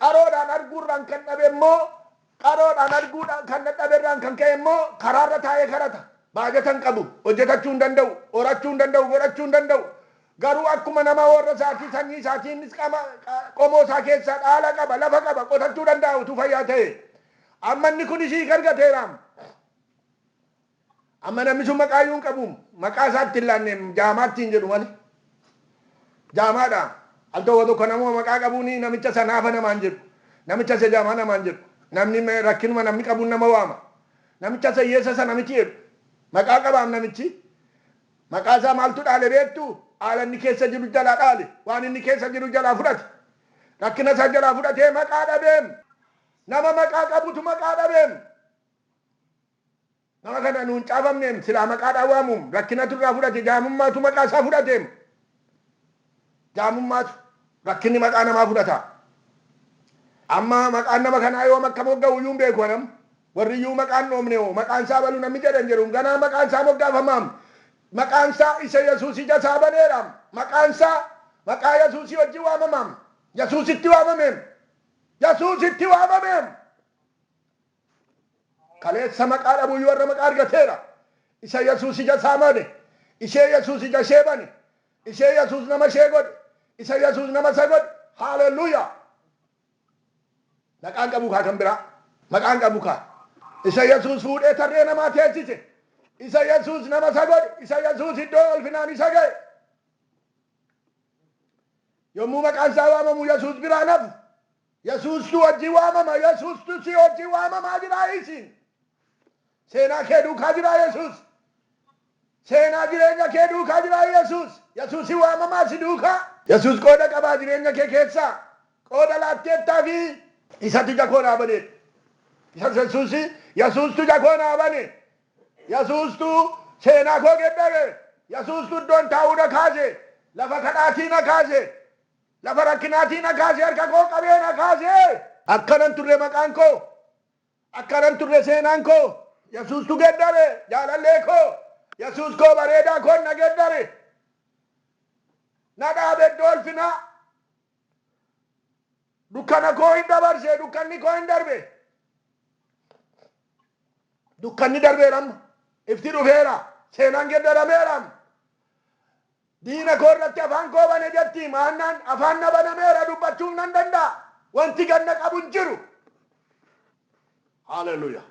Qaroodhaan arguurraan kan dhabe immoo qaroodhaan arguu kan dadhabe irraan kan ka'e immoo karaarra taa'ee kadhata. Baajata hin qabu, hojjetachuu hin danda'u, horachuu hin danda'u, godhachuu hin danda'u. Garuu akkuma nama warra isaatii, sanyii isaatii innis qama qomoo isaa keessaa dhaala qaba, lafa qaba, qotachuu danda'a utuu fayyaa ta'ee. Amma inni kunis hiika argateeraam. Amma namni sun maqaa iyyuu hin qabu. Maqaa isaa itti hin laanne jaamaa ittiin jedhu malee. Jaamaadha. Al tokko tokko namuma maqaa qabuun namicha isa naafa namaan jedhu. Namicha isa jaamaa namaan jedhu. Namni rakkinuma namni qabuun nama waama. Namicha isa hiyyeessa sana miti jedhu. Maqaa qabaam namichi. Maqaa isaa maaltu dhaale beektu? Haala inni keessa jiru jalaa dhaale. Waan inni keessa jiru jalaa fudhate. Rakkina isaa jalaa fudhatee maqaa dhabeem. Nama maqaa qabutu maqaa dhabeem. Nama kana nu hin caafamneem, silaa maqaadhaan waamuum, rakkinatu irraa fudhate, jaamummaatu maqaa isaa fudhateem. Jaamummaatu, rakkinni maqaa namaa fudhata. Amma maqaan nama kanaa yoom akka mogga'u iyyuu hin beeku an amma. Warri iyyuu maqaa hin dhoofne hoo, maqaan isaa Abalu namni jedhe hin jiruum, ganaa maqaan isaa moggaafamaam. Maqaan isaa isa Yesuus ija isaa baneeraam. Maqaan isaa maqaa Yesuusii wajjin waamamaam. Yesuusitti waamameem. Yesuusitti waamameem! Kaleessa maqaa dhabuuyyuu har'a maqaa argateera. Isa Yesuus ija isaa made, ishee Yesuus ija ishee bane, ishee Yesuus nama ishee godhe, isa Yesuus nama isa godhe. Haalelluuyaa! Maqaan qabu kaa kan biraa. Maqaan qabu kaa. Isa Yesuus fuudhee tarree namaa teessise, isa Yesuus nama isa godhe, isa Yesuus iddoo ulfinaan isa ga'e. Yommuu maqaan isaa waamamu Yesuus biraan hafu, Yesuus si wajjin waamama Yesuustu si wajjin waamamaa jira isiin Seenaa kee duukaa jira Yesuus Seenaa jireenya kee duukaa jira Yesuus Yesuusi waamamaa si duukaa. Yesuus qooda qabaa jireenya kee keessaa qooda laatteettaafii? Isatu ija koo naa bane Isa Yesuusi Yesuustu ija koo naa bane Yesuustu seenaa koo geddare Yesuustu iddoon taa'uu na kaase Lafa kadhaatii na kaase Lafa rakkinaatii na kaase harka koo qabee na kaase. Akkana hin turre maqaan koo. Akkana hin turre seenaan koo. Yesuustu geddare jaalallee koo. Yesuus koo bareedaa koon na geddare. Na dhaabe iddoo ulfinaa. Dukkana koo hin dabarse dukkanni koo hin darbe. Dukkanni darbeera amma. Ifti dhufeera. Seenaan geddarameera amma. Diina koo irratti afaan koo bane jetti Maannaan. Afaan na banameera, dubbachuuf nan danda'a. Wanti gad na qabu hin jiru. Hallelujah!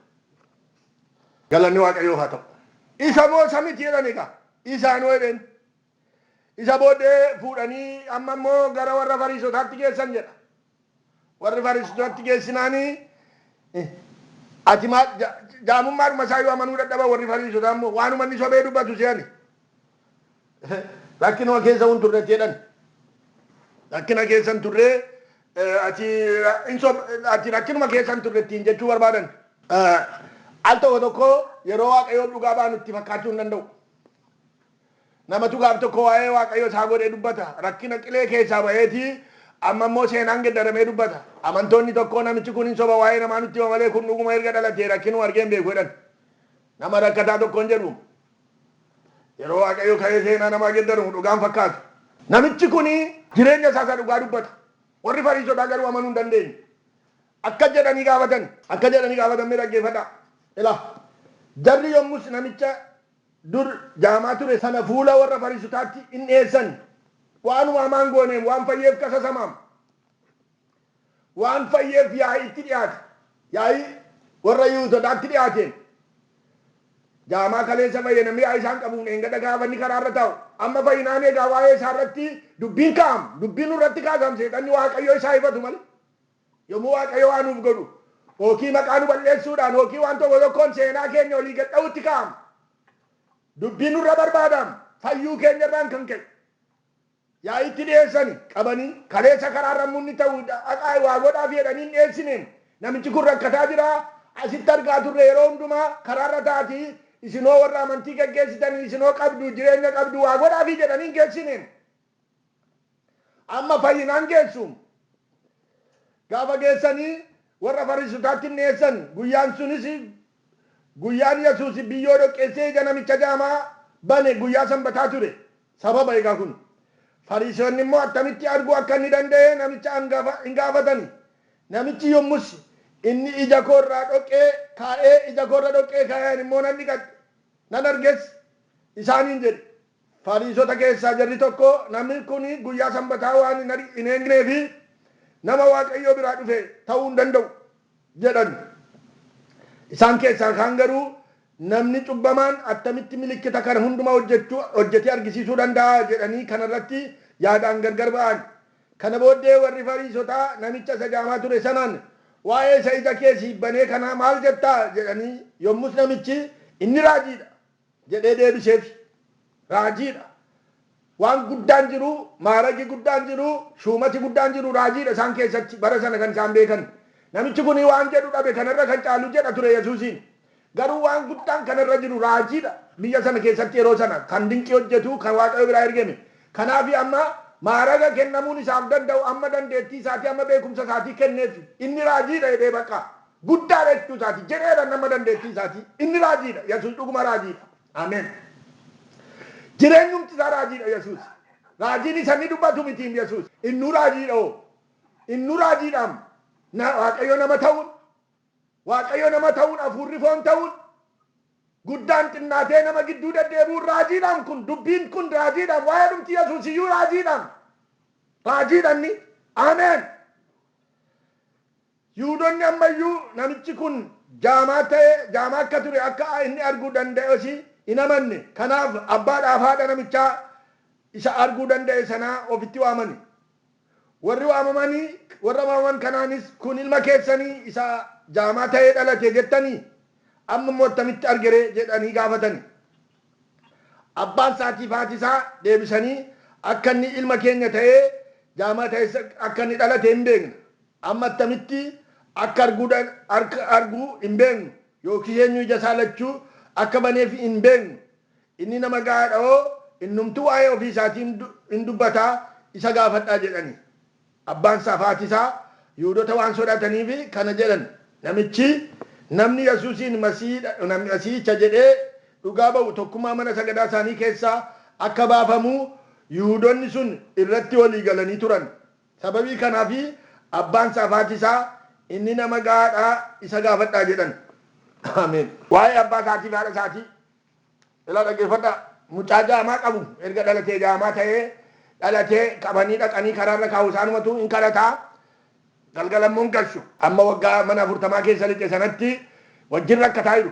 Galanni Waaqayyoof haa ta'u. Isa moo isa miti jedhan egaa. Isa anoo jedheen. Isa booddee fuudhanii amma immoo gara warra Fariisotaatti geessan jedha. Warri Fariisitootatti geessinaani, Ati maal, jaamummaadhuma isaa iyyuu amanuu dadhaban warri Fariisotaa immoo, waanuma inni sobee dubbatu se'ani. Rakkinuma keessa hin turre itti jedhani. Rakkina keessa hin turre, ati hin sob, ati rakkinuma keessa hin turre ittiin jechuu barbaadan. Al tokko tokko yeroo Waaqayyoon dhugaa baanu itti fakkaachuu hin danda'u. Namatu gaaf tokko waa'ee Waaqayyo isaa godhee dubbata. Rakkina qilee keessaa ba'eeti amma immoo seenaan geddaramee dubbata. Amantoonni tokkoo namichi kun hin soba waa'ee namaa nutti hima malee kun dhuguma erga dhalatee rakkinuu argee hin beeku jedhan. Nama rakkataa tokkoon jedhu yeroo Waaqayyo ka'ee seenaa namaa geddaru dhugaa hin fakkaatu. Namichi kun jireenya isaa isa dhugaa dubbata. Warri Fariisotaa garuu amanuu hin dandeenye. Akkas jedhanii gaafatan. Akkas jedhanii gaafatan mee dhaggeeffadhaa. Ilaa! Jarri yommus namicha dur jaamaa ture sana fuula warra Fariisotaatti in dhi'eessan, waanuma hamaa hin gooneem, waan fayyeef qasasamaam. Waan fayyeef yaa'iitti dhi'aate, yaa'ii warra Yihuutotaatti dhi'aateem. Jaamaa kaleessa fayye namni yaa'ii isaan qabuun dheengadha gaafa inni karaa irra taa'u, amma fayyinaan egaa waa'ee isaa irratti dubbiin kaa'am, dubbii nurratti kaasaam seexanni Waaqayyo isaa hifatu malee. Yommuu Waaqayyo waa nuuf godhu ookii maqaa nu bal'eessuudhaan ookii waan tokko tokkoon seenaa keenya olii gad dha'uutti ka'am. Dubbii nurra barbaadaam fayyuu keenya irraan kan ka'e. Yaa'iitti dhi'eessani qabanii kaleessa karaa irra munni ta'u dhaqaa waa godhaaf jedhanii hin dhi'eessineem. Namichi kun rakkataa jira asitti argaa turre yeroo hundumaa karaa irra taati isinoo warra amantii geggeessitanii isinoo qabdu jireenya qabdu waa godhaafii jedhanii hin geessineem. Amma fayyinaan geessu. Gaafa geessanii warra Fariisotaatti hin dhiyeessan. Guyyaan sunis guyyaan Yesuus biyyoo dhoqqeessee ija namicha jaamaa bane guyyaa Sanbataa ture. Sababa egaa kun. Fariisonni immoo attamitti arguu akka inni danda'e namicha angafa in gaafatani. Namichi yommus inni ija koo irraa dhoqqee kaa'ee ija koo irra dhoqqee kaa'ee ani immoo nan dhiqadhe, nan arges isaaniin jedhe. Fariisota keessaa jarri tokko, Namni kun guyyaa Sanbataa waan hin eegneef, nama Waaqayyo biraa dhufe ta'uu hin danda'u jedhan. Isaan keessaa kaan garuu, Namni cubbamaan attamitti milikkita kana hundumaa hojjetee argisiisuu danda'a? jedhanii kana irratti yaadaan gargar ba'an. Kana booddee warri Fariisotaa namicha isa jaamaa ture sanaan, Waa'ee isa ija kee siif banee kanaa maal jetta? jedhanii, yommus namichi, Inni raajii dha! jedhee deebiseefi. Raajiidha. Waan guddaan jiru, maaragi guddaan jiru, shuumati guddaan jiru raajiidha isaan keessatti, bara sana kan isaan beekan. Namichi kuni waan jedhu dhabe kana irra kan caalu jedha ture Yesuusiin. Garuu waan guddaan kana irra jiru raajiidha. Biyya sana keessatti yeroo sana kan dinqii hojjetu kan Waaqayyo biraa ergeme. Kanaafi amma maaraga kennamuun isaaf danda'u amma dandeettii isaatii, amma beekumsa isaatii kenneeffi. Inni raajiidha jedhee baqqaa. guddaa dha jechuu isaati. Jedheera inni amma dandeettii isaatii. Inni raajii dha. Yesuus dhuguma raajii dha. Ameen. Jireenyumti isaa raajii dha Yesuus. Raajiin isa inni dubbatu mitiim Yesuus. Innuu raajii dha hoo. Innuu raajii dhaam. Na, Waaqayyo nama ta'uun, Waaqayyo nama ta'uun, hafuurri foon ta'uun, guddaan xinnaatee nama gidduu deddeebi'uun raajii dhaam kun. Dubbiin kun raajii dhaam. Waa'eedhumti Yesuus iyyuu raajii dhaam. Raajii dha inni. Ameen. Yihuudonni amma iyyuu namichi kun jaamaa ta'e, jaamaa akka ture akka inni arguu danda'es hin amanne. Kanaaf abbaadhaa fi haadha namichaa isa arguu danda'e sanaa ofitti waamani. Warri waamamani, warra waamaman kanaanis, Kun ilma keessani isa jaamaa ta'ee dhalate jettanii? Amma immoo attamitti argeree? jedhanii gaafatani. Abbaan isaatii fi haati isaa deebisanii akka inni ilma keenya ta'ee jaamata eessa akka inni dhalate hin beekna. Amma attamitti akka arguu akka argu hin beeknu yookiis eenyu ija isaa lachuu akka baneef hin beeknu. Inni nama ga'aa dha hoo? Innumtuu waa'ee ofii isaatii hin dubbata, isa gaafadhaa jedhani. Abbaan isaa fi haati isaa Yihuudota waan sodaataniif kana jedhan. Namichi, Namni Yesuusiin Masiihicha jedhee dhugaa ba'u tokkummaa mana sagadaa isaanii keessaa akka baafamu Yihuudonni sun irratti walii galanii turan. Sababii kanaaf abbaan isaa fi haati isaa, Inni nama ga'aa dha, isa gaafadhaa jedhan. Ameen. Waa'ee abbaa isaatii fi haadha isaatii Ilaa dhaggeeffadhaa. Mucaa jaamaa qabu erga dhalatee jaamaa ta'ee dhalatee qabanii dhaqanii karaarra kaa'u isaanumatu hin kadhata galgala immoo hin galchu. Amma waggaa mana afurtamaa keessa lixe sanatti wajjin rakkataa jiru.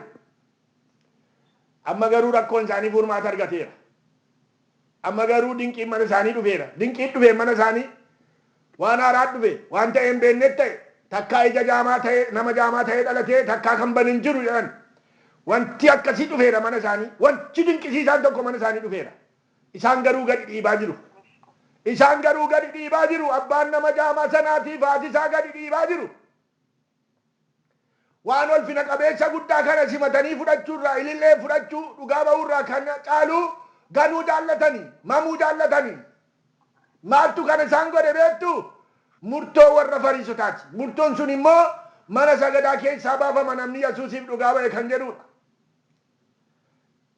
Amma garuu rakkoon isaanii furmaata argateera. Amma garuu dinqiin mana isaanii dhufeera. Dinqiin dhufeen mana isaanii waan haaraat dhufe. Waan ta'ee hin beenneet ta'e. Takkaa ija jaamaa ta'ee, nama jaamaa ta'ee dhalatee takkaa kan bane hin jiru jedhan. Wanti akkasii dhufeera mana isaanii. Wanti dinqisiisaan tokko mana isaanii dhufeera. Isaan garuu gadi dhiibaa jiru. Isaan garuu gadi dhiibaa jiru. Abbaan nama jaamaa sanaatiif haati isaa gadi dhiibaa jiru. Waan ulfina qabeessa guddaa kana simatanii fudhachuu irraa, ilillee fudhachuu, dhugaa ba'uu irraa kan caalu ganuu jaallatani, mamuu jaallatani. Maaltu kana isaan godhe beektu? Murtoo warra Fariisotaati. Murtoon sun immoo mana sagadaa keessaa baafama namni Yasuusiif dhugaa ba'e kan jedhuudha.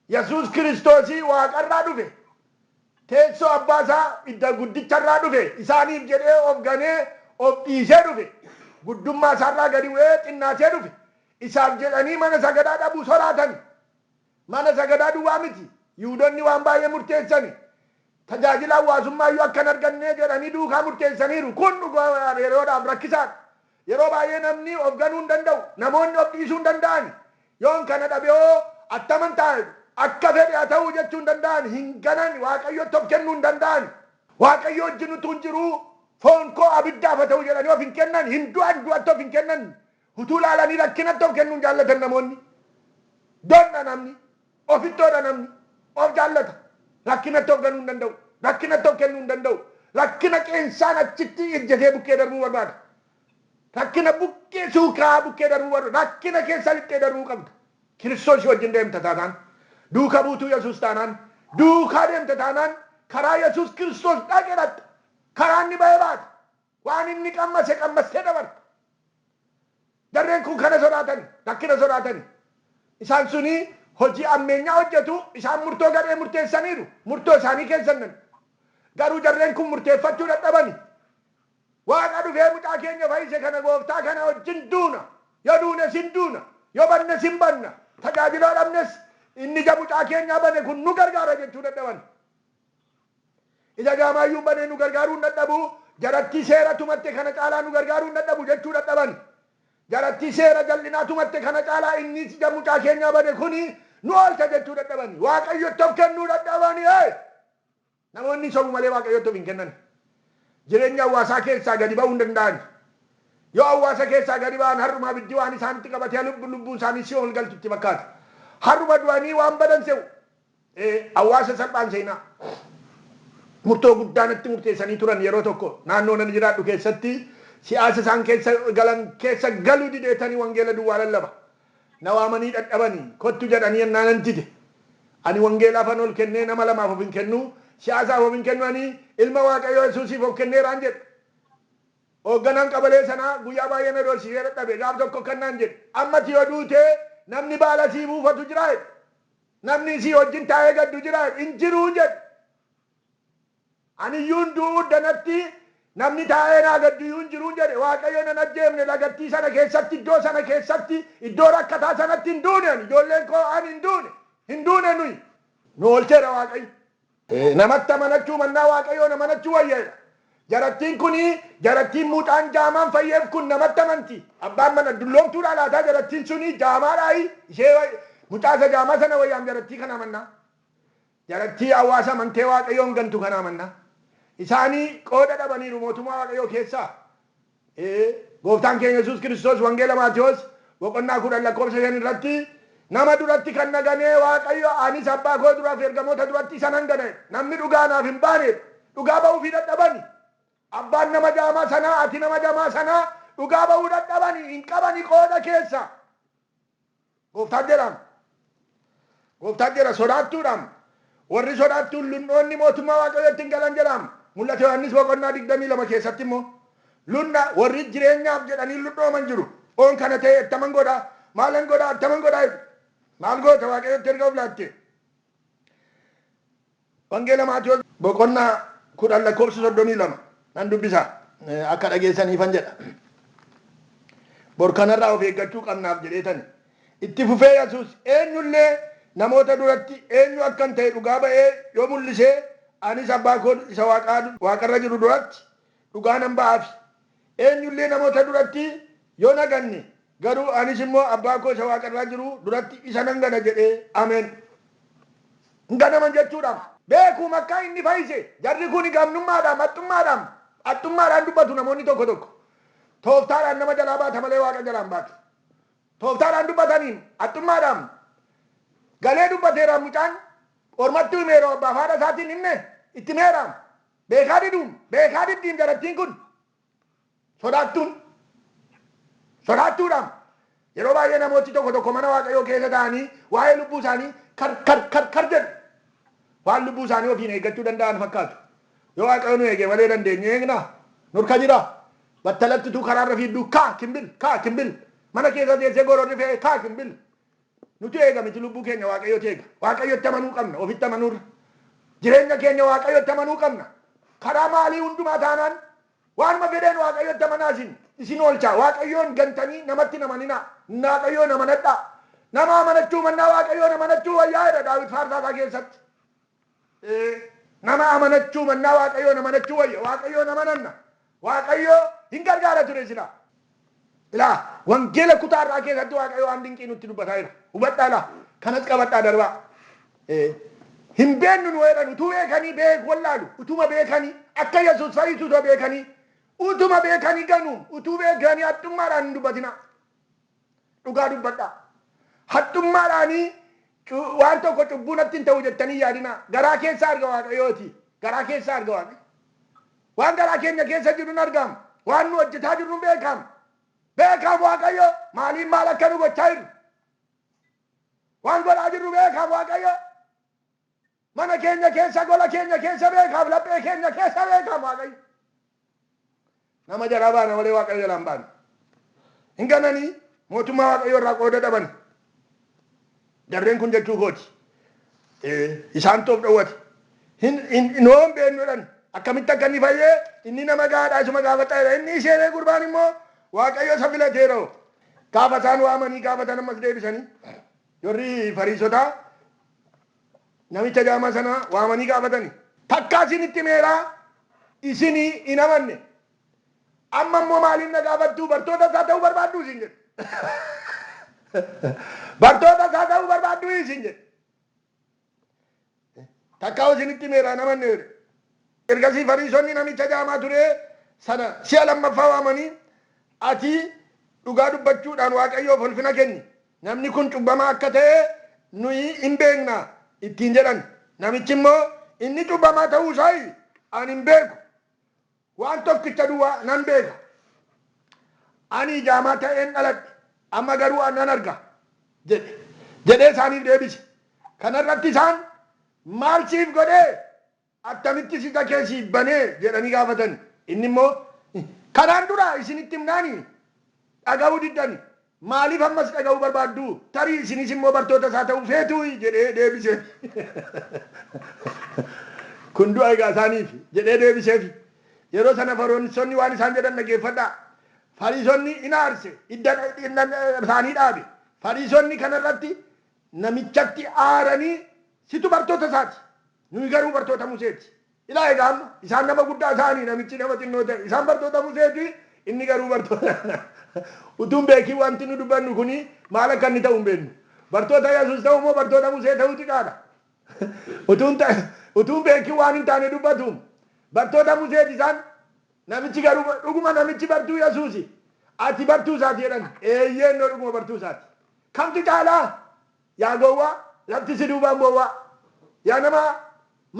Yesuus Kiristoosii Waaqa irraa dhufe, teessoo Abbaa isaa idda guddicha irraa dhufe, isaaniif jedhee of ganee, of dhiisee dhufe, guddummaa isaa irraa gadi bu'ee xinnaatee dhufe. Isaaf jedhanii mana sagadaa dhabuu soraatani. Mana sagadaa duwwaa miti, Yihuudonni waan baay'ee murteessani. Tajaajila hawwaasummaa iyyuu akka hin argannee jedhanii duukaa murteessaniiru. Kun dhugaa yeroodhaaf rakkisaa dha. Yeroo baay'ee namni of ganuu hin danda'u. Namoonni of dhiisuu hin danda'ani. Yoon kana dhabe hoo attaman ta'a jedhu. Akka fedhe haa ta'uu jechuu hin danda'ani. Hin ganani. Waaqayyotti of kennuu hin danda'ani. Waaqayyo wajjin utuun jiruu foon koo abiddaaf haa ta'u jedhanii of hin kennani. Hin du'an, du'atti of hin kennani. Utuu ilaalanii rakkinatti of kennuu hin jaallatan namoonni. Donna namni. Ofittoodha namni. Of jaallata. Rakkinatti of ganuu hin danda'u. Rakkinatti of kennuu hin danda'u. Rakkina qeensaan achitti ejjetee bukkee darbuu barbaada. Rakkina bukkee suukaa'aa bukkee darbuu barbaada. Rakkina keessa lixxee darbuu qabda. Kiristoosii wajjin deemta taanaan, duuka buutuu Yesuus taanaan, duukaa deemta taanaan karaa Yesuus Kiristoos dhaqe dhaqxa. Karaa inni ba'e baata. Waan inni qammase qammassee dabarte. Jarreen kun kana sodaatani, rakkina sodaatani. Isaan suni hojii ammeenyaa hojjetu, isaan murtoo gadhee murteessaniiru, murtoo isaanii keessa hin naqne. Garuu jarreen kun murteeffachuu dadhabani. Waaqa dhufee mucaa keenya fayise kana gooftaa kana wajjin duuna, yoo duunes hin duuna, yoo bannes hin banna, tajaajila yoo dhabnes inni ija mucaa keenyaa bane kun nu gargaara jechuu dadhabani. Ija gaamaayyuu banee nu gargaaruu hin dhadhabu, jarattii seera tumatte kana caalaa nu gargaaruu hin dhadhabu jechuu dhadhaban. Jarattii seera jal'inaa tumatte kana caalaa innis ija mucaa keenyaa bane kuni nu oolcha jechuu dhadhabani. Waaqayyotti of kennuu dhadhabani. Ee! Namoonni sobu malee Waaqayyotti of hin kennani. Jireenya hawwaasaa keessaa gadi ba'uu hin danda'ani. Yoo hawwaasa keessaa gadi ba'an har'uma abiddi waan isaanitti qabatee lubbuu isaanii si'ool galtu itti fakkaata. Har'uma du'anii waan badan se'u. Hawaasa salphaan seenaa. Murtoo guddaa natti murteessanii turan yeroo tokko. Naannoon ani jiraadhu keessatti siyaasa isaan keessa galan keessa galuu dideetani wangeela duwwaa lallaba. Na waamanii dhadhabani. Kottu jedhanii ennaa nan dide. Ani wangeelaafan ol kennee nama lamaaf of hin kennu, siyaasaaf of hin kennu ani ilma Waaqayyoo Yesuusiif of kenneeraan jedhe. Hoogganaan qabalee sanaa guyyaa baay'ee na doorsisee dadhabe. Gaaf tokko akkan naan jedhe, Amma ati yoo duute namni baala siif uufatu jiraa? jedhe. Namni isii wajjin taa'ee gaddu jiraa? Hin jiru jedhe. Ani iyyuun du'uu danatti namni taa'ee naa gaddu iyyuu hin jiru jedhe. Waaqayyo nan ajjeefne lagattii sana keessatti, iddoo sana keessatti, iddoo rakkataa sanatti hin duune ani, ijoolleen koo ani hin duune, hin duune nuyi. Nu oolcheera Waaqayyo. Namatti amanachuu mannaa Waaqayyoon amanachuu wayya jedha. Jarattiin kun jarattiin mucaan jaamaan fayyeef kun namatti amanti. Abbaan mana dulloomtuudhaa laataa jarattiin sun jaamaadhaayi ishee mucaa isa jaamaa sana wayyaam jarattii kanaa mannaa. Jarattii hawaasa amantee Waaqayyoon gantu kanaa mannaa. Isaanii qooda dhabaniiru mootummaa Waaqayyoo keessaa. Ee, Gooftaan keenya Yesuus Kiristoos Wangeela Maatewos boqonnaa 10 lakkoofsa 5 irratti, Nama duratti kan na ganee Waaqayyo, anis Abbaa koo dura fi ergamoota duratti isa nan gana jedhe. Namni dhugaa anaaf hin baane dha. Dhugaa ba'uufii dadhabani. Abbaan nama jaamaa sanaa, ati nama jamaa sanaa dhugaa ba'uu dadhabani, hin qabani qooda keessa. Gooftaan jedhaam. Gooftaan jedha sodaattuudhaam. Warri sodaattuun lun'oonni mootummaa Waaqayyootti hin galan jedhaam. Mul'ata Yohaannis boqonnaa 22 keessatti immoo lun'a warri jireenyaaf jedhanii lun'ooman jiru. Oon kana ta'e attaman godha? Maalan godha? Attaman godha? jedhu. Maal goota Waaqayyootti erga of laattee? Wangeela Maatewos boqonnaa 10 lakkoofsa 32 nan dubbisa akka dhageessaniifan jedha. Bor kanarraa of eeggachuu qabnaaf jedheetani. Itti fufee Yesuus eenyullee namoota duratti eenyu akkan ta'e dhugaa ba'ee yoo mul'isee anis abbaa koo isa waaqarra jiru duratti dhugaa nan ba'aafi. Eenyu illee namoota duratti yoo na ganne, garuu anis immoo Abbaa koo isa waaqa irraa jiru duratti isa nan gana jedhee ameen. Hin ganaman jechuu dha. Beekuum akka inni fayyise. Jarri kun gamnummaadhaam, haxxummaadhaam, haxxummaadhaan dubbatu namoonni tokko tokko. Tooftaadhaan nama jalaa baata malee Waaqa jalaa hin baatu. Tooftaadhaan dubbataniim, haxxummaadhaam, galee dubbateeraam mucaan, ormatti himeeraam, abbaaf haadha isaatiin himne, itti himeeraam, Beekaa diduun beekaa diddi intalattiin kun sodaattuun sodaattuudhaam yeroo baay'ee namooti tokko tokko mana waaqayyoo keessa ta'anii waa'ee lubbuu isaanii kar kar kar kar jedhu waan lubbuu isaanii ofiin eeggachuu danda'an fakkaatu yoo waaqayyo nu eege malee dandeenye eegna nurka jira battalatti utuu karaarra fiidduu kaa kimbil kaa kimbil mana keessa teessee gororri fe'ee kaa kimbil Nutu eega miti lubbuu keenya waaqayyotu eega. Waaqayyotti amanuu qabna ofitti amanuurra. Jireenya keenya waaqayyotti amanuu qabna. Karaa maalii hundumaa taanaan waanuma fedheen waaqayyotti amanaa isin isin oolchaa. Waaqayyoon gantanii namatti hin amaninaa. Waaqayyoon amanadhaa. Nama amanachuu mannaa waaqayyoon amanachuu wayyaa jedha Daawit faarsaa isaa keessatti. Ee, nama amanachuu mannaa Waaqayyoon amanachuu wayya. Waaqayyoon amananna. Waaqayyo hin gargaara ture silaa. Ilaa, wangeela kutaa har'aa keessatti Waaqayyo waan dinqii nutti dubbataa jira. Hubadhaa ilaa, kanas qabadhaa darbaa. Ee, hin beennu nu jedhan utuu beekanii beek wallaalu. Utuma beekanii akka Yesus fayyisu utuu beekanii utuma beekanii ganuun utuu beekanii haxxummaadhaan hin dubbatinaa. Dhugaa dubbadhaa. Haxxummaadhaani cu- waan tokko cubbuu natti hin ta'u jettanii hin yaadinaa. Garaa keessa arga Waaqayyooti. Garaa keessa arga Waaqayyo. Waan garaa keenya keessa jiru hin argaam. Waan nu hojjetaa jirru hin beekaam. Beekaam Waaqayyo maaliin maal akka nu gochaa jirru. Waan godhaa jirru beekaam Waaqayyo. Mana keenya keessa gola keenya keessa beekaaf laphee keenya keessa beekaaf waaqayyo nama jalaa baana malee waaqayyo jalaa hin baanu hin gananii mootummaa waaqayyo irraa qooda dhaban jarreen kun jechuu kooti isaan toof dhowwate noo hin beeknudhan akkamitti akka inni fayyee inni nama gaadhaa isuma gaafadhaa jedha inni isheenee gurbaan immoo waaqayyo isa filateera hoo gaafa isaan waamanii gaafatan ammas deebisanii warri fariisotaa Namicha jaamaa sana waamanii gaafatani. Takkaa isinitti himeera, isin hin amanne. Amma immoo maaliif na gaafattu? Bartoota isaa ta'uu barbaadduu? Isiin jedhe. Bartoota isaa ta'uu barbaadduu? Isiin jedhe. Takkaa isinitti himeera, hin amanne jedhe. Ergasii Fariisonni namicha jaamaa ture sana si'a lammaffaa waamanii, Ati dhugaa dubbachuudhaan Waaqayyoof ulfina kenni, Namni kun cubbamaa akka ta'e nuyi in beekna ittiin jedhan. Namichi immoo, Inni cubbamaa ta'uu isaa ani hin beeku. Waan tokkicha duwwaa nan beeka. Ani ijaamaa ta'een dhaladhe, amma garuu nan arga jedhe jedhee isaaniif deebise. Kana irratti isaan, Maal siif godhe? Attamitti siqa kee siif bane? jedhanii gaafatan. Inni immoo, Kanaan dura isinitti himnaanii? Dhaga'uu diddani. Maaliif ammas dhaga'uu barbaaddu? Tarii isinis immoo bartoota isaa ta'uu feetuuyi? jedhee deebiseef. Kun du'a egaa isaaniif! jedhee deebiseef. Yeroo sana Farionsonni waan isaan jedhan dhaggeeffadhaa. Fariisonni in aarse, hidda isaanii dhaabe. Fariisonni kana irratti namichatti aaranii, Situ bartoota isaa ti! Nuyi garuu bartoota Musee ti. Ilaa egaa amma, isaan nama guddaa ta'anii, namichi nama xinnoo ta'e. Isaan bartoota Musee ti, inni garuu bartoota anaa. Utuu hin beekin wanti nu dubbannu kun maal akka inni ta'u hin beeknu. Bartoota Yesuus ta'uu moo bartoota Musee ta'uu xiqaa dha? Utuu hin ta, utuu hin beekin waan hin taane dubbatuum. Bartoota Musee ti isaan, namichi garuu, dhuguma namichi bartuu Yesuusi? Ati bartuu isaa ti jedhan. Eeyyee, innoo dhuguma bartuu isaa ti. Kamtu caalaa? Yaa gowwaa lafti si duubaan bowwaa Yaa namaa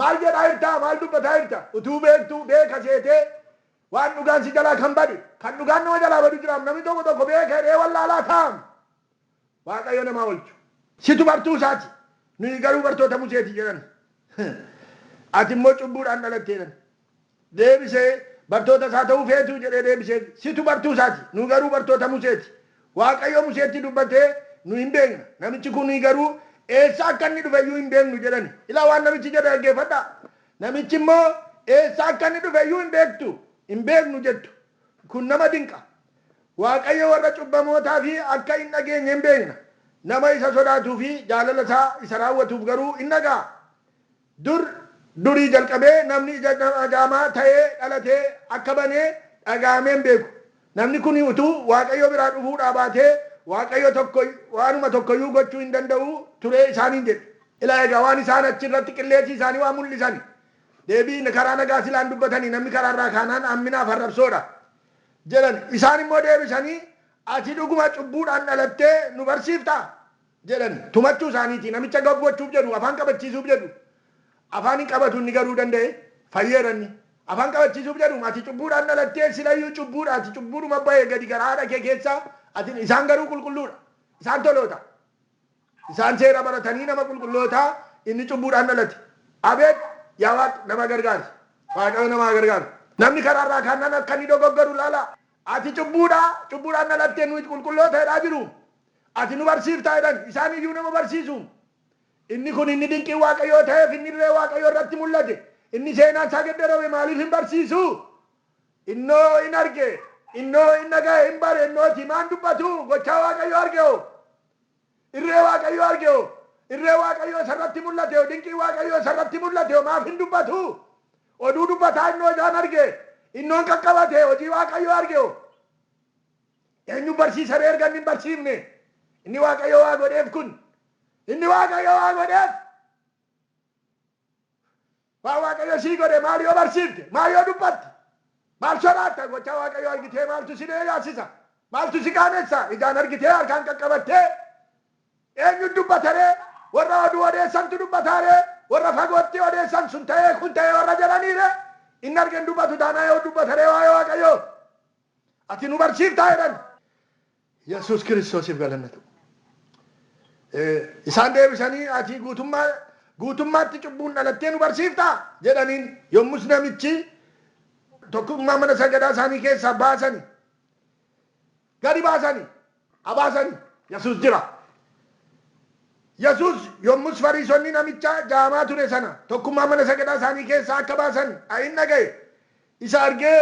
maal jedhaa jirtaa maal dubbataa jirta utuu beektuu beeka seetee waan dhugaan si jalaa kan bade kan dhugaan nama jalaa badu jiraam namni tokko tokko beeka jedhee wallaalaa taa'am waaqayyo namaa olchu. Situ bartuu isaati nuyi garuu bartoota museeti jedhan ati immoo cubbuudhaan dhalatte jedhan. deebisee, Bartoota isaa ta'uu feetuu? jedhee deebiseef. Situ bartuu isaa ti, nuyi garuu bartoota Musee ti. Waaqayyo Museetti dubbate, Nu in beekna, namichi ku ni garuu eessaa akka inni dhufe iyyuu hin beeknu jedhani. Ilaa waan namichi jedhe dhaggeeffadhaa. Namichi immoo, Eessaa akka inni dhufe iyyuu hin beektu, hin beeknu jettu. Kun nama dinqa! Waaqayyo warra cubbamootaa fi akka hin dhageenye in beekna, nama isa sodaatuu fi jaalala isaa isa raawwatuuf garuu in dhaga'a. Dur durii jalqabee namni ija dhagaamaa ta'ee dhalate akka bane dhaga'amee hin beeku. Namni kun utuu Waaqayyo biraa dhufuu dhaabaatee Waaqayyo tokko waanuma tokko iyyuu gochuu hin danda'u ture isaaniin jedhe. Ilaa egaa waan isaan achi irratti qilleessi isaanii waan mul'isani. Deebii karaa nagaa silaa hin dubbatani namni karaa irraa kaanaan hamminaa fi arrabsoo dha. Jedhan. Isaan immoo deebisanii Ati dhuguma cubbuudhaan dhalattee nu barsiiftaa? jedhan tumachuu isaaniiti. Namicha gag gochuuf jedhu, afaan qabachiisuuf jedhu. Afaan hin qabatu inni garuu danda'ee fayyeera inni. Afaan qabachiisuuf jedhu ati cubbuudhaan dhalattee silayyuu cubbuudha ati cubbuudhuma ba'e gadi garaa haadha kee keessaa ati isaan garuu qulqulluudha. Isaan toloota. Isaan seera baratanii nama qulqullootaa inni cubbuudhaan dhalate. Abeet yaa waaq nama gargaari. Waaqayyo nama haa gargaaru. Namni karaarraa kaannan akka inni dogoggoru ilaalaa. Ati cubbuudhaa, cubbuudhaan dhalattee nu'it qulqulloota jedhaa jiruun, ati nu barsiiftaa jedhan, isaan iyyuu nama barsiisuun, Inni kun inni dinqiin Waaqayyoo ta'eef, inni irree Waaqayyoo irratti mul'ate, inni seenaan isaa geddarame maaliif hin barsiisu? Innoo in arge, innoo in dhaga'e, in bare, innoo ati maan dubbatu? Gochaa Waaqayyoo arge hoo? Irree Waaqayyo arge hoo? Irree Waaqayyo isa irratti mul'ate hoo? Dinqii Waaqayyo isa irratti mul'ate hoo maaf hin dubbatu? Oduu dubbataa innoo isaan arge, innoon qaqqabate, hojii Waaqayyo arge hoo? Eenyun barsiisa ree erga inni hin barsiifne? Inni Waaqayyo waa godheef kun, inni Waaqayyo waa godheef! Waan Waaqayyo sii godhe maal yoo barsiifte? Maal yoo dubbatte? Maal sobaatta? Gochaa Waaqayyoo argitee maaltu si leeyaassisa? Maaltu si qaanessa? Ijaan argitee harkaan qaqqabattee? Eenyutu dubbata ree? Warra oduu odeessantu dubbataa ree? Warra fagootti odeessan sun ta'ee kun ta'ee warra jedhanii ree? Inni arge hin dubbatu taanaan yoo dubbata ree waa'ee Waaqayyoo? Ati nu barsiiftaa jedhan. Yesuus Kiristoosiif galanni ta'u. Isaan deebisanii, Ati guutummaa guutummaatti cubbuun dhalattee nu barsiiftaa? jedhaniin. Yommus namichi tokkummaa mana sagadaa isaanii keessaa baasani. Gadi baasani. Abaasani. Yesuus jira. Yesuus yommus Fariisonni namicha jaamaa ture sana tokkummaa mana sagadaa isaanii keessaa akka baasan in dhaga'e. isa argee,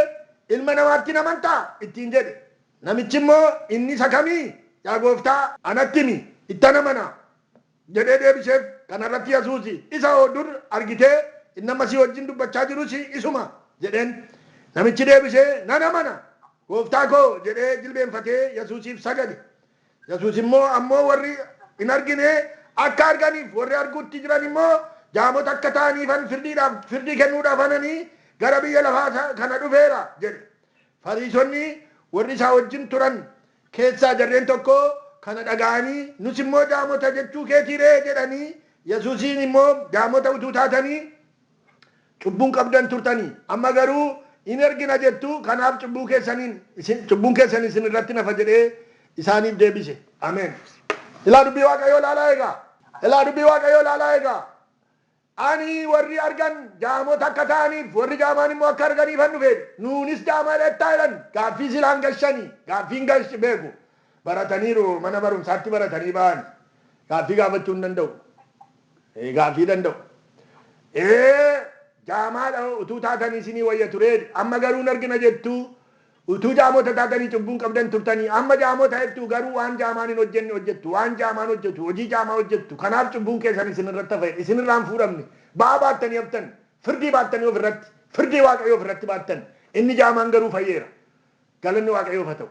Ilma namaatti hin amantaa? ittiin jedhe. Namichi immoo, Inni isa kami? Yaa Gooftaa, anatti himi, ittan amana! jedhee deebiseef. Kana irratti Yesuus, Isa hoo dur argitee? Inni amma si wajjin dubbachaa jirus isuma! jedheen. Namichi deebisee, Nan amana! Gooftaa koo! jedhee jilbeenfatee Yesuusiif sagade. Yesuus immoo, Ammoo worri hin argine akka arganiif, worri arguutti jiran immoo jaamota akka ta'aniifan firdiidhaaf, firdii kennuudhaaf anani gara biyya lafaa kana dhufeera jedhe. Fariisonni worri isaa wajjin turan keessaa jarreen tokko kana dhaga'anii, Nus immoo jaamota jechuu keetii ree? jedhanii, Yesuusiin immoo, Jaamota utuu taatanii, Cubbuu hin qabdan turtanii, amma garuu in ergina jettu, kanaaf cubbuu keessaniin, isin, cubbuun keessan isin irratti hin hafa jedhee isaaniif deebise. Ameen. Ilaa dubbii Waaqayyoo ilaalaa eegaa. Ilaa dubbii Waaqayyoo ilaalaa eegaa. Ani warri argan jaamota akka ta'aniif, warri jaamaan immoo akka arganiifan dhufe. Nuunis jaamaa dheettaa jedhan. Gaaffii silaa hin gashani. Gaaffii hin gash beeku. Barataniiru, mana barumsaatti baratanii ba'ani. Gaaffii gaafachuu hin danda'u. Ee gaaffii danda'u. Ee jaamaadha hoo utuu taatanii isinii wayya turee jedhe. Amma garuu hin argina jettuu? Utuu jaamota taatanii cubbuu hin qabdan turtanii. Amma jaamota ta'ettuu garuu waan jaamaan hin hojjenne hojjettu. Waan jaamaan hojjetu, hojii jaamaa hojjettu. Kanaaf cubbuun keessan isin irratti hafa jedhe. Isin irraa hin fuudhamne. Ba'aa baattanii haftan. Firdii baattanii of irratti. Firdii Waaqayyoo of irratti baattan. Inni jaamaan garuu fayyeera. Galanni Waaqayyoof haa ta'u.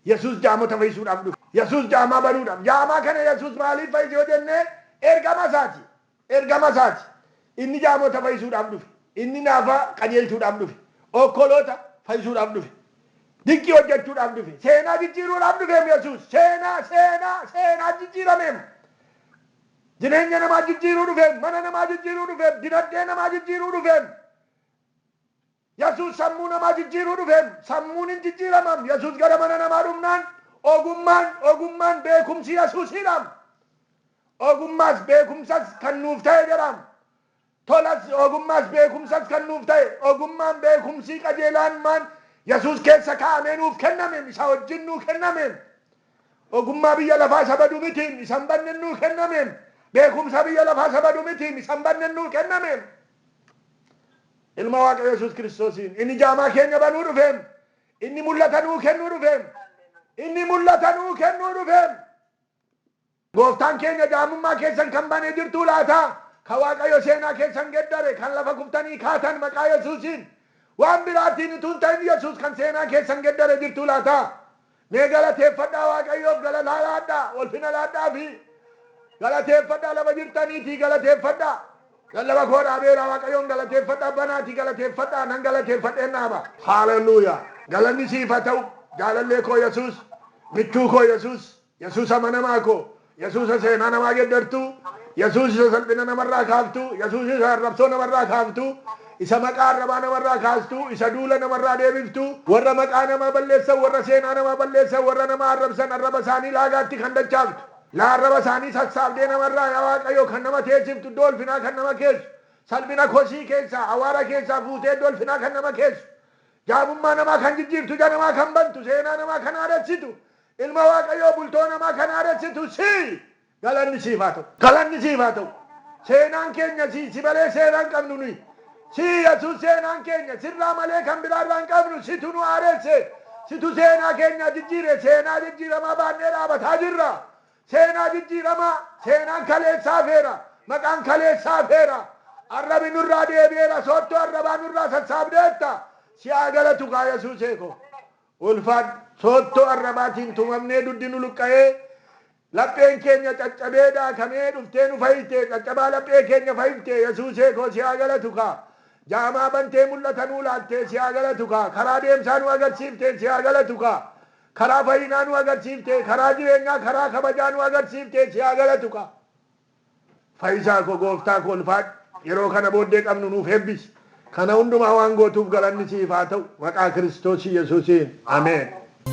Yesuus jaamota fayyisuudhaaf dhufe. Yesuus jaamaa baruudhaaf. Jaamaa kana Yesuus maaliif fayyise yoo jenne ergama isaati. Ergama isaati. Inni jaamota fayyisuudhaaf dhufe. Inni naafa qajeelchuudhaaf dhufe. Okkoloota fayyisuudhaaf dhufe. Dinqii hojjechuudhaaf dhufe. Seenaa jijjiiruudhaaf dhufeem Yesuus. Seenaa, seenaa, seenaa jijjiirameem. Jireenya namaa jijjiiruu dhufeem. Mana namaa jijjiiruu dhufeem. Dinagdee namaa jijjiiruu dhufeem. Yesuus sammuu namaa jijjiiruu dhufeem. Sammuun in jijjiiramaam. Yesuus gara mana namaa dhufnaan ogummaan, ogummaan, beekumsi Yesuusiidhaam. Ogummaas beekumsas kan nuuf ta'e jedhaam. Tolas ogummaas beekumsas kan nuuf ta'e, ogummaan beekumsii qajeelaan maan Yesuus keessa kaa'amee nuuf kennameem, isa wajjin nuu kennameem. Ogummaa biyya lafaa isa badu mitiim, isa hin badnen nuu kennameem. Beekumsa biyya lafaa isa badu mitiim, isa hin badnen nuu kennameem. Ilma Waaqayyo Yesuus Kiristoosiin. Inni jaamaa keenya banuu dhufeem. Inni mul'ata nuu kennuu dhufeem. Inni mul'ata nuu kennuu dhufeem. Gooftaan keenya jaamummaa keessan kan banee jirtuu laata? Ka Waaqayyo seenaa keessan geddare, kan lafa kuftanii kaatan maqaa Yesuusiin. Waan biraatiin utuu hin ta'in Yesuus kan seenaa keessan geddare jirtuu laata? Mee galateeffadhaa Waaqayyoof galataa laadhaa, ulfina laadhaafii. Galateeffadhaa lafa jirtaniitii galateeffadhaa. Nan lafa koo dhaabeera Waaqayyoon galateeffadha abba naatii galateeffadhaa nan galateeffadheen dhaaba. Hallelujah! Galanni siif haa ta'u, jaalallee koo Yesuus, michuu koo Yesuus, Yesuus amanamaa koo, Yesuusa seenaa namaa geddartu, Yesuus isa salphina namarraa kaaftu, Yesuus isa arrabsoo namarraa kaaftu, isa maqaa arrabaa namarraa kaastu, isa duula namarraa deebiftu, warra maqaa namaa balleessan, warra seenaa namaa balleessan, warra nama arrabsan arraba isaanii laagaatti kan dachaaftu, laa arraba isaanii sassaabdee namarraa yaa Waaqayyo kan nama teessiftu, iddoo ulfinaa kan nama keessu, salphina kosii keessaa, awwaara keessaa fuutee iddoo ulfinaa kan nama keessu, jaamummaa namaa kan jijjiirtu, ija namaa kan bantu, seenaa namaa kan haaressitu, Ilma Waaqayyoo bultoo namaa kan haaressitu sii! Galanni siif haa ta'u! Galanni siif haa ta'u! Seenaan keenya sii! Si malee seena hin qabnu nuyi! Sii Yesuus seenaan keenya! Sirraa malee kan biraa irraa hin qabnu! Situ nu haaresse! Situ seenaa keenyaa jijjiire! Seenaa jijjiiramaa baannee dhaabataa jirra! Seenaa jijjiiramaa! Seenaan kaleessaa hafeera! Maqaan kaleessaa hafeera! Arrabi nurraa deebi'eera! Soottoo arrabaa nurraa sassaabdeetta! Si haa galatu kaa Yesuusee koo! Ulfaadhu! Soottoo arrabaatiin tumamnee dugdi nu luqqa'ee, lapheen keenya caccabee daakamee dhuftee nu fayifte, caccabaa laphee keenya fayifte, Yesuusee koo si haa galatu kaa! Jaamaa bantee mul'ata nuu laattee si haa galatu kaa! Karaa deemsaa nu agarsiiftee si haa galatu kaa! Karaa fayyinaa nu agarsiiftee, karaa jireenyaa, karaa kabajaa nu agarsiiftee si haa galatu kaa! Fayyisaa koo gooftaa koo ulfaadhu yeroo kana booddee qabnu nuuf eebbisi kana hundumaa waan gootuuf galanni siif haa ta'u maqaa kiristoos yesuusiin ameen.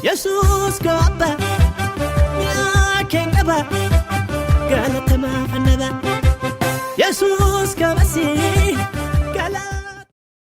Yesuus koo abba mi'aa keen qaba galatamaaf annaba Yesuus koo basii.